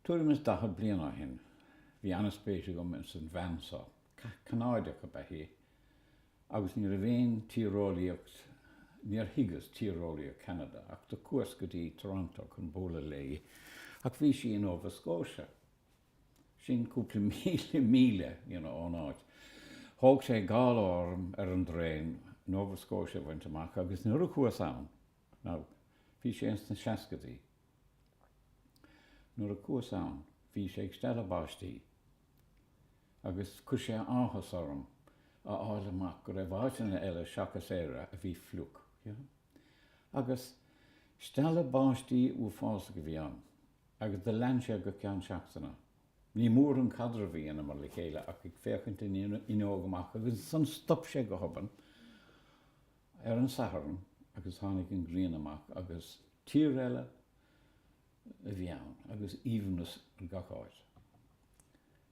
Tuairim is daichead bliain ó shin, bhí an-spéis agam ins an bhean so. Canádach ab ea í, agus ní raibh aon tíreolaíocht, níor thuigeas tíreolaíocht Canada, ach do chuas go dtí Toronto chun bualadh léi, ach bhí sí i Nova Scotia, sin cúpla míle, míle, you know, ón áit. Thóg sé dhá lá orm, ar an dtraen, Nova Scotia a bhaint amach, agus nuair a cuas ann, now, bhí sé ins na seascadaí, Nuair a cuas ann bhí sé ag stealladh báistí agus chuir sé áthas orm a fháil amach go raibh áiteanna eile seachas Éire a bhí fliuch. Agus stealladh báistí uafásach a bhí ann agus do lean sé go ceann seachtaine. Ní mór an caidreamh a dheineamar le chéile ach ag féachaint an fhuinneoig amach agus ansan stop sé go hobann ar an Satharn agus tháinig an ghrian amach agus tír eile a bhí ann agus aoibhneas ar gach áit.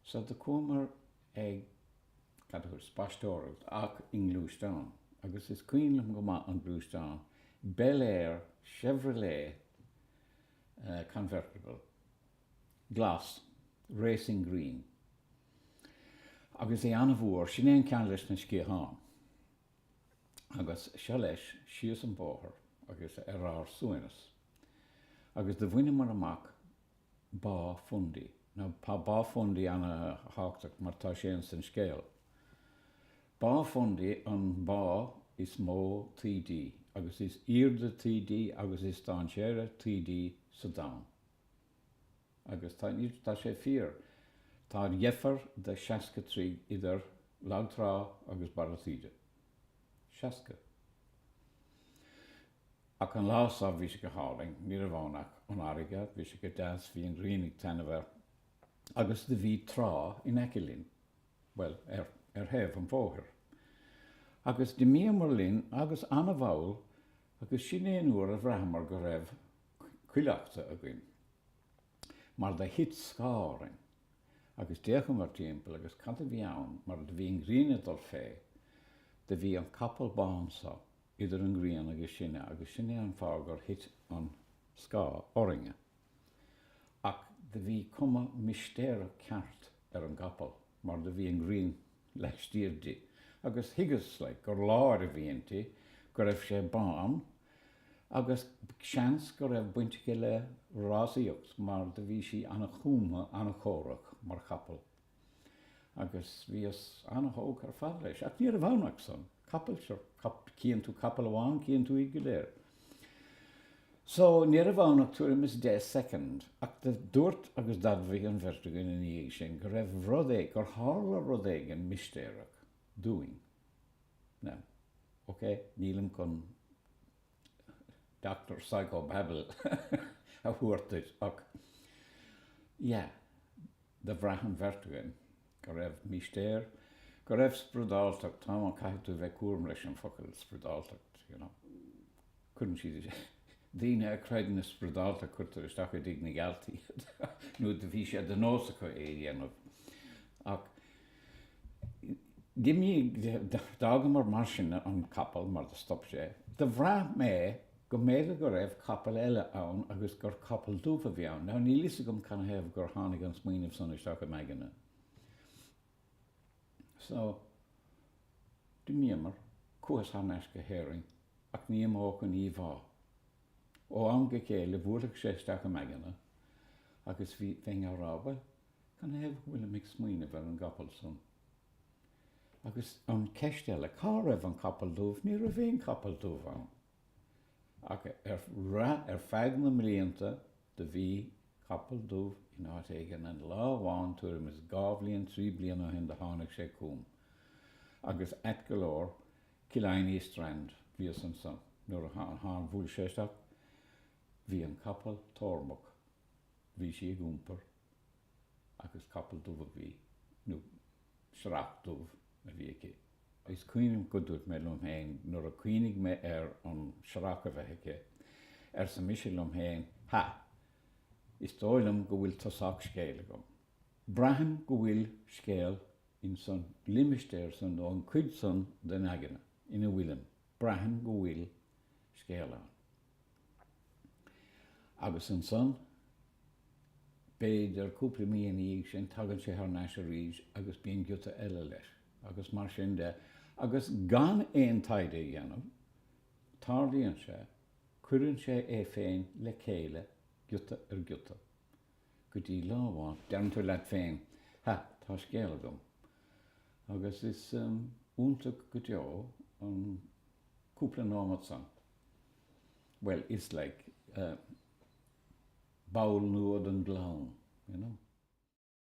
Sea, do chuamar ag, cad a dúrt, spaisteoireacht ach i ngluaisteán agus is cuimhin liom go maith an gluaisteán Bel Air Chevrolet Convertible glas, racing green, agus é an-mhór, sin é an ceann leis na sciatháin. agus seo leis síos an bóthar agus ar ár suaimhneas, agus do bhaineamar amach Bá Fundy. Now tá Bá Fundy an-thábhachtach mar tá sé ins an scéal. Bá Fundy an bhá is mó taoidí agus is aoirde taoidí agus is dainséaraí taoidí sa domhan. agus tá sé fíor, tá an-dheifir de 60 troigh idir lag trá agus barra taoide. 60. Ach an lá so, bhí sé go hálainn, ní raibh ann ach an fharraige, bhí sé go deas, bhí an ghrian ag taitneamh air agus do bhí trá in aice linn, bhuel, ar thaobh an bhóthair. Agus d'imíomar linn agus ana-mhall agus sin é an uair a bhraitheamar go raibh, cuileachta againn, mar do thit scáth orainn, agus d'fhéachamar timpeall agus cad a bhí ann mar do bhí an ghrian ag dul fé, do bhí an capall bán so idir an ghrian agus sinne agus sin é an fáth gur thit an scáth orainne. Ach do bhí cuma mistéireach ceart ar an gcapall mar do bhí an ghrian. laistiar di, agus thuigeas gur láir a bhí inti, go raibh sé bán, agus seans go raibh baint aici le rásaíocht mar do bhí sí an-chumtha, an-chórach mar chapall, agus bhíos an-thógtha ar fad leis, ach ní raibh ann ach san, capall, sure, cíonn tú capall amháin, cíonn tú iad go léir. So, ní raibh ann ach tuairim is deich second, ach dúirt agus d'admhaigh an bheirt againn ina dhiaidh sin go raibh rud éi, gur tharla rud éigin mistéireach dúinn. Now, ok, nílim chun Doctor Psychobabble a thabhairt duit ach yeah, do bhraith an bheirt againn Go raibh mistéir, go raibh spradáltacht, tá mé, caithfidh tú bheith cúramach leis an focal spradáltacht, you know, cuireann siad, daoine a creideann i spradáltacht cuirtear isteach i dTigh na gGealt iad nó do bhí sé de nós acu é a dhéanamh ach d'imíomar, d'fhágamar mar sin an capall mar do stop sé, do bhraith mé. go mb'fhéidir go raibh capall eile ann agus gur capall dubh a bhí ann. Now níl fhios agam canathaobh gur tháinig an smaoineamh san isteach im aigne. So, d'imíomar, chuas thar n-ais go hÉirinn, ach ní imeodh an íomhá. Ó am go chéile bhuailfeadh sé isteach im aigne agus bhí, bheinn á rá, bhuel, canathaobh go bhfuilim ag smaoineamh ar an gcapall san? Agus an cheist eile, cá raibh an capall dubh, ní raibh aon chapall dubh ann. Ach ar feadh na mblianta do bhí capall dubh in áit éigin an lá amháin tuairim is dhá bhliain, trí bliana ó shin do tháinig sé chugam agus ait go leor Killiney Strand a bhíos ansan nuair a tháin, bhuail sé isteach, bhí an capall tórmach, bhí sí ag iompar. agus capall dubh a bhí, nó searrach dubh a bhí aici. Is cuimhnim go dúirt mé liom féin nuair a chuimhnigh mé ar an searrach a bheith aici, arsa mise liom féin, ha! is dóigh liom go bhfuil tosach scéil agam. Braithim go bhfuil scéal insan limistéar san nó an chuid san den aigne ina bhfuilim, braithim go bhfuil scéal ann. Agus ansan, b'fhéidir, cúpla mí ina dhiaidh sin, tagann sé thar n-ais arís agus bíonn giota eile leis. Agus mar sin de. Agus gan aon taighde a dhéanamh, tarlaíonn sé, cuireann sé é féin le chéile, giota ar ghiota. Go dtí lá amháin, deireann tú leat féin, Ha, tá scéal agam. Agus is iontach go deo an cúpla nóimeat san. bhuel, is like ball nua den gclann, you know.